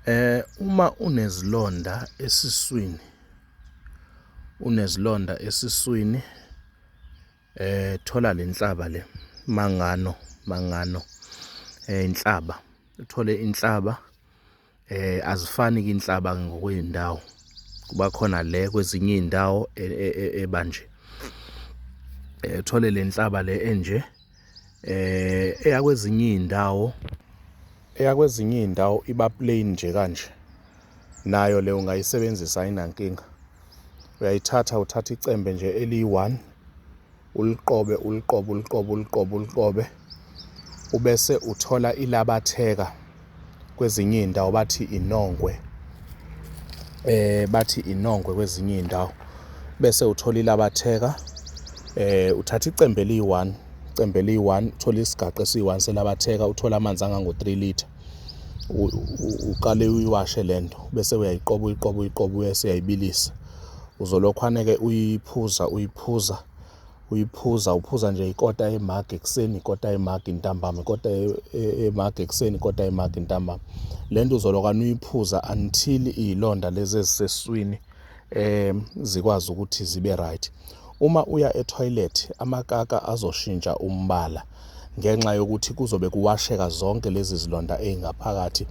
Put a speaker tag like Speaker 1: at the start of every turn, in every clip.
Speaker 1: Eh uma unezilonda esiswini unezilonda esiswini eh thola lenhlaba le mangano mangano eh inhlaba uthole inhlaba eh azifani ke inhlaba ngokwezindawo kuba khona le kwezinye izindawo e, e, e, ebanje eh thole lenhlaba le enje eh eyakwezinye izindawo eyakwezinye izindawo iba plain nje kanje nayo le ungayisebenzisa ayinankinga uyayithatha uthatha icembe nje eliyi-one uliqobe uliqobe uliqobe uliqobe uliqobe ubese uthola ilabatheka kwezinye iy'ndawo bathi inongwe eh bathi inongwe kwezinye iy'ndawo bese uthola ilabatheka eh uthatha icembe eliyi-one icembe eliyi-one uthole isigaqa esiyi-one selabatheka uthole amanzi angango-three litre uqale uyiwashe le nto bese uyayiqoba uyiqoba uyiqoba uyese uyayibilisa uzolokhu aneke uyiphuza uyiphuza uyiphuza uphuza nje ikota yemagi ekuseni ikota yemagi ntambama ikota yemagi ekuseni ikota yemagi ntambama le nto uzolokane uyiphuza until iy'londa lezi eziseswini um zikwazi ukuthi zibe right uma uya etoilet amakaka azoshintsha umbala ngenxa yokuthi kuzobe kuwasheka zonke lezi zilonda ezingaphakathi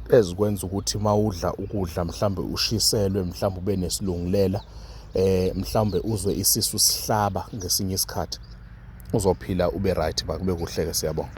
Speaker 1: ezikwenza ukuthi mawudla ukudla mhlambe ushiselwe mhlambe ube nesilungulela eh mhlambe uzwe isisu sihlaba ngesinye isikhathi uzophila ube right bakube kuhleke siyabonga